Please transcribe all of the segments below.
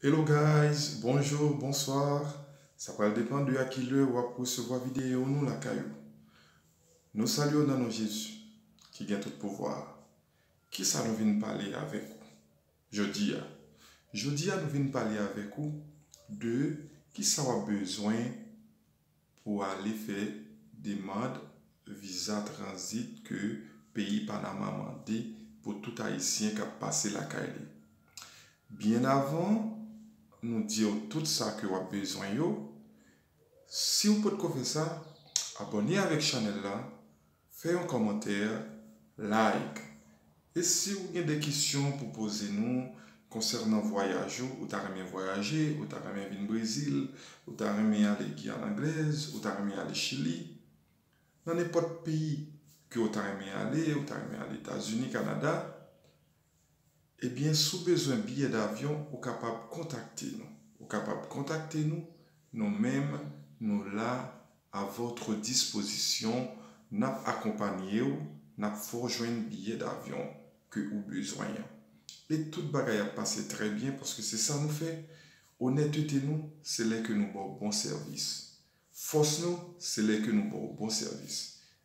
Hello guys bonjour bonsoir sa pral depan de a ki lè wap resevwa video nou lakay ou nou salye w nan non Jezi ki gen tout pouvwa a kisa nou vin pale avèk ou jodi a jodi a nou vin pale avèk ou de kisa wap bezwen pou ale fè demand viza tranzit ke peyi Panama mande pou tout Ayisyen k ap pase lakay li. Byen avan nou di w tout sa ke w ap bezwen yo, si w potko fè sa, abòne avèk chanèl la Fè yon kòmantè, like. E si ou gen de kesyon pou poze nou konsènan vwayaj ou, ou ta renmen vwayaje, ou ta renmen vin Brezil, ou ta renmen ale Guyane Anglaise, ou ta renmen ale Chili, nan nenpòt peyi ke ou ta renmen ale, ou ta renmen ale Etazini, Kanada, Ebyen si w bezwen biyè davyon ou kapab kontakte nou. Ou kapab kontakte nou, nou menm nou la a votre disposition, n ap akonpanye w, n ap fè w jwenn biyè davyon ke ou bezwen an. E tout bagay ap pase trè byen paske se sa nou fè, onètete nou se lè ke nou ba w bon sèvis. Fòs nou se lè ke nou ba w bon sèvis.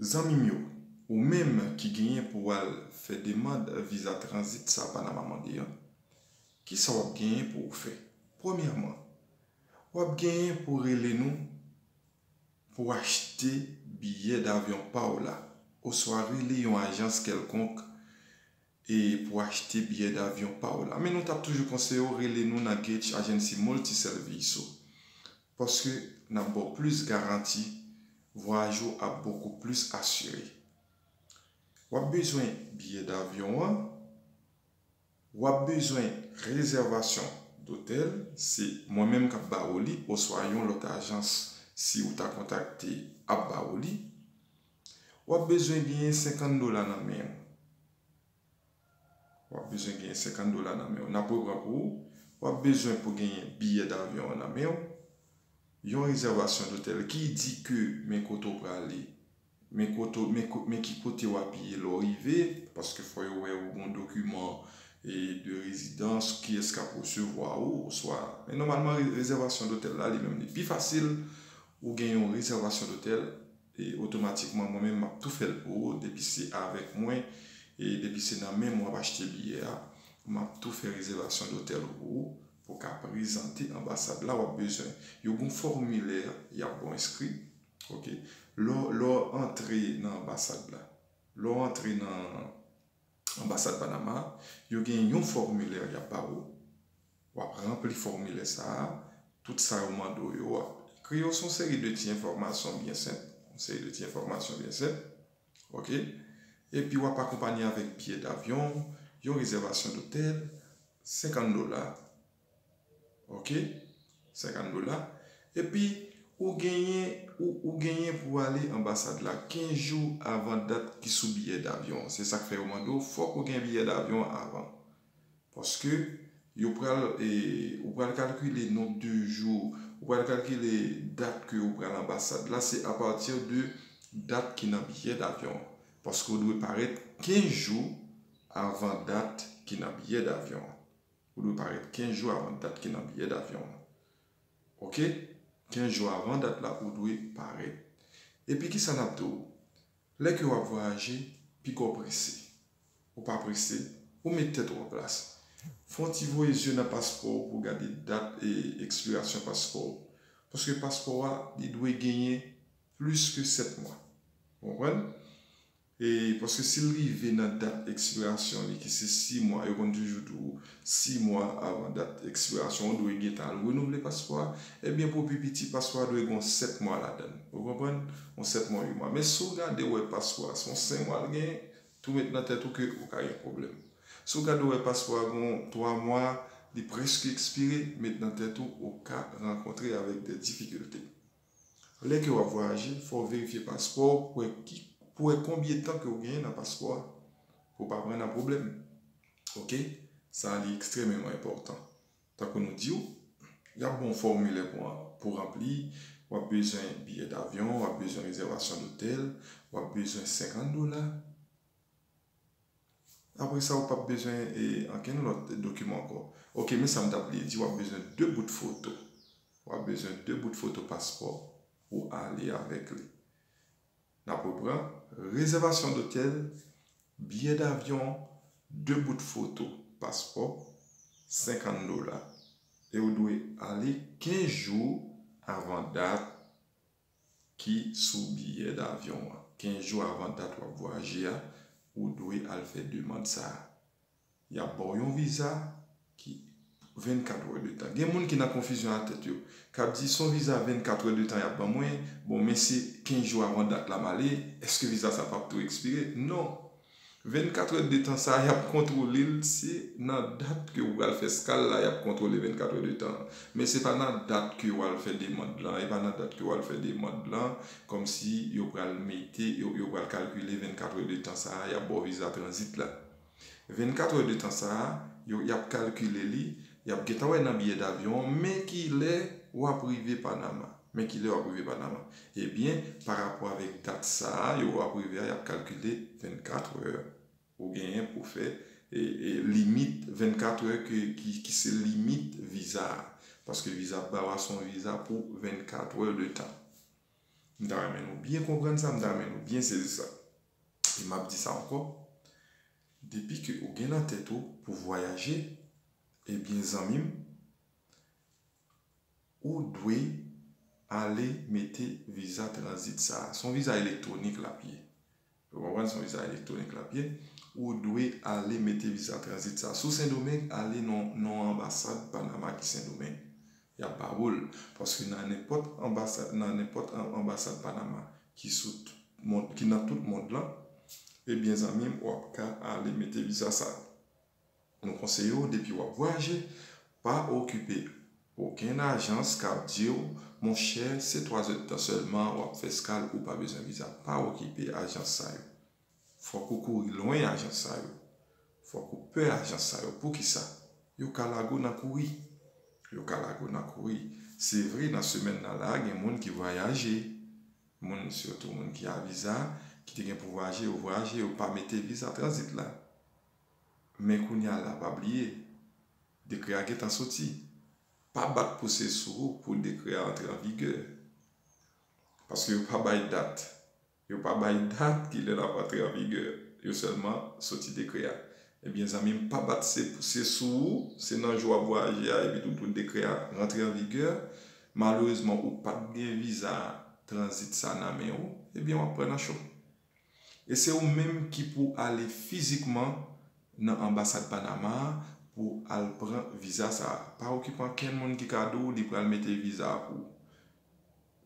Zanmim yo, ou menm ki genyen pou wal fè demand viza tranzit sa Panama mande an, kisa wap genyen pou ou fè? Premyèman, wap genyen pou rele nou pou achte biyè davyon paw la oswa rele yon ajans kèlkonk e pou achte biyè davyon pa w la men nou tap toujou konseye w rele nou nan Gate Agency Multi Serviço paske nap ba w plis garanti vwayaj ou ap bokou plis asire wap bezwen biyè davyon an wap bezwen rezèvasyon dotèl se mwen menm kap ba ou li oswa yon lòt ajans si ou ta kontakte ap ba ou li. Wap bezwen genyen 50 dola nan men w. Wap bezwen genyen 50 dola nan men w. Nap repran pou ou. Wap bezwen pou genyen biyè davyon an nan men w. Yon rezèvasyon dotèl ki di ke men kote w prale. Men kote, men ki kote wap ye lè w rive. Paske fò yo wè ou gon dokiman de rezidans, kiyès kap resevwa ou oswa. Men nòmalman rezèvasyon dotèl la li menm li pi fasil. Ou gen yon rezèvasyon dotèl E otomatikman mwen menm map tou fèl pou ou depi se avèk mwen e depi se nan menm wap achte biyè a map tou fè rezèvasyon dotèl ou pou ou pou ka prezante anbasad la wap bezwen yo gon fòmilè yap bon enskri ok lè lè antre nan anbasad la lè antre nan. Anbasad Panama a, yo gen yon fòmilè y ap ba ou. W ap ranpli fòmilè sa a, tout sa yo mande w yo w ap ekri yo. Se yon seri de ti enfòmasyon byen senp, yon seri de ti enfòmasyon byen senp, ok. Epi w ap akonpanye avèk biye davyon, yon rezèvasyon dotèl, 50 dola. Ok 50 dola epi ou genyen ou genyen pou w ale anbasad la 15 jou avan dat ki sou biyè davyon an se sak fè yo mande w fòk ou gen biyè davyon an avan paske yo pral ou pral kalkile non de jou ou pral kalkile dat ke ou pral anbasad la se apati de dat ki nan biyè davyon an paske ou dwe parèt 15 jou avan dat ki nan biyè davyon an Ou dwe parèt 15 jou avan dat ki nan biyè davyon an. Ok. 15 jou avan dat la ou dwe parèt. Epi kisa nap di w? Lè ke wap vwayaje, piga w prese. Ou pa prese, ou met tèt ou an plas. Fè yon ti voye zye nan paspò w pou w gade dat ekspirasyon paspò w. Paske paspò a, li dwe genyen plis ke 7 mwa. Ou konprann? E paske si l rive nan dat ekspirasyon li ki se 6 mwa, yo konn toujou di w 6 mwa avan dat ekspirasyon ou dwe gen tan renouvle paspò a, ebyen pou pi piti paspò a dwe gen yon 7 mwa ladan l. Ou konprann? Yon 7 mwa, 8 mwa. Men si w gade ou wè paspò a se yon 5 mwa l genyen, tou met nan tèt ou ke ou ka gen pwoblèm. Si w gade ou wè paspò a gen yon 3 mwa, li prèske ekspire, met nan tèt ou ou ka rankontre avèk dè difikilte. Lè ke wap vwayaje, fò w verifye paspò w pou wè ki, pou wè konbye tan ke w genyen nan paspò a, pou w pa pran nan pwoblèm. Ok, sa a li ekstrememan enpòtan. Tankou nou di w, yap ban w fòmilè pou an, pou ranpli, wap bezwen biyè davyon, wap bezwen rezèvasyon dotèl, wap bezwen 50 dola, Apre sa ou pap bezwen ankenn lòt dokiman ankò. Ok men sa m ta bliye di wap bezwen 2 bout foto. Wap bezwen 2 bout foto paspò pou ale avèk li. Nap repran, rezèvasyon dotèl, biyè davyon, 2 bout foto paspò, 50 dola. E ou dwe ale 15 jou avan dat ki sou biyè davyon an. 15 jou avan dat w ap vwayaje a, ou dwe al fè demand sa a. Y ap ba w yon viza ki 24 wè de tan. Gen moun ki nan konfizyon nan tèt yo, k ap di, 'S on viza 24 wè de tan y ap ban mwen, bon men se 15 jou avan dat la m ale, èske viza sa a p ap tou ekspire? Non! 24 heures de temps sa yap kontrole l se nan dat ke ou pral fè skal la yap kontrole 24 heures de temps an men se pa nan dat ke wal fè demand lan e pa nan dat ke wal fè demand lan kòmsi yo pral mete yo pral kalkile 24 heures de temps sa yap baw viza tranzit la 24 heures de temps sa yo yap kalkile li yap gentan wè nan biyè davyon an men kilè wap rive Panama. Men kilè wap rive Panama. Ebyen pa rapò avèk dat sa a yo wap rive a yap kalkile 24 heure ou genyen pou fè e limit 24 heure ke ki se limit viza a. Paske viza yap ba ou a se yon viza pou 24 heure de tan. M ta renmen nou byen konprann sa, m ta renmen nou byen sezi sa. E map di sa ankò, depi ke ou gen nan tèt ou pou vwayaje, ebyen zanmi m, Ou dwe ale mete viza tranzit sa a. Se yon viza elektwonik l ap ye. Ou konprann? Se yon viza elektwonik l ap ye. Ou dwe ale mete viza tranzit sa a. Si w Sendomeng, ale nan yon anbasad Panama ki Sendomeng. Y ap ba ou l. Paske nan nenpòt anbasad, nan nenpòt anbasad Panama ki sou tout mond, ki nan tout mond lan, ebyen zanmi m, w ap ka ale mete viza sa a. Nou konseye w depi w ap vwayaje, pa okipe okenn ajans k ap di w, monchè se 3 zèdtan sèlman w ap fè eskal ou pa bezwen viza, pa okipe ajans sa yo. Fòk ou kouri lwen ajans sa yo. Fòk ou pè ajans sa yo. Poukisa? Yo ka lage w nan kouri. Yo ka lage w nan kouri. Se vre nan semèn nan la a gen moun ki vwayaje, moun sitou moun ki a viza, ki te gen pou vwayaje yo vwayaje, yo pa mete viza tranzit la. Men kounya la pa bliye dekrè a gentan soti. Pa bat pouse sou ou pou dekrè a antre an vigè. Paske yo pa bay dat. Yo pa bay dat ki lè l ap antre an vigè. Yo sèlman soti dekrè a. Ebyen zanmi m pa bat se pouse sou ou, se nan jou w ap vwayaje a epi tou pou dekrè a rantre an vigè. Malerezman ou pa t gen viza tranzit sa nan men ou, ebyen w ap pran nan cho. E se ou menm ki pou ale fizikman nan anbasad Panama a pou al pran viza sa a. Pa okipe ankenn moun ki ka di w li pral mete viza a pou ou.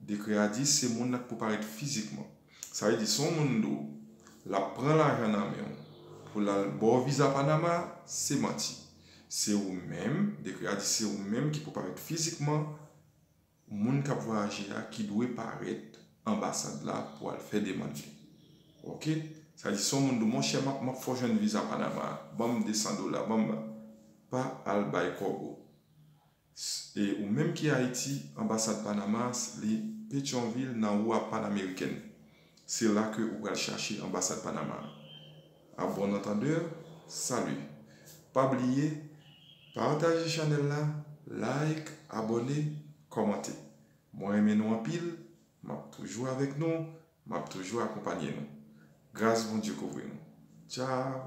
Dekrè a di se moun nan k pou parèt fizikman. Sa vle di si yon moun di w l ap pran lajan nan men w pou l al ba w viza Panama a, se manti. Se ou menm, dekrè a di se ou menm ki pou parèt fizikman Moun kap vwayaje a ki dwe parèt anbasad la pou al fè demand li ok sa di son moun do monchè map map fè w jwenn viza panama a banm 200 dola banm la pa al bay kòb ou s e ou menm ki ayiti anbasad panama a s li petyonvil nan rua panameriken Se la ke ou pral chache anbasad Panama a. A bon antandeur, salut! Pa bliye Pataje chanèl la, like, abòne, kòmante. Mwen renmen nou anpil, map toujou avèk nou, map toujou akonpanye nou. Gras Bondye kouvri nou. Ciao!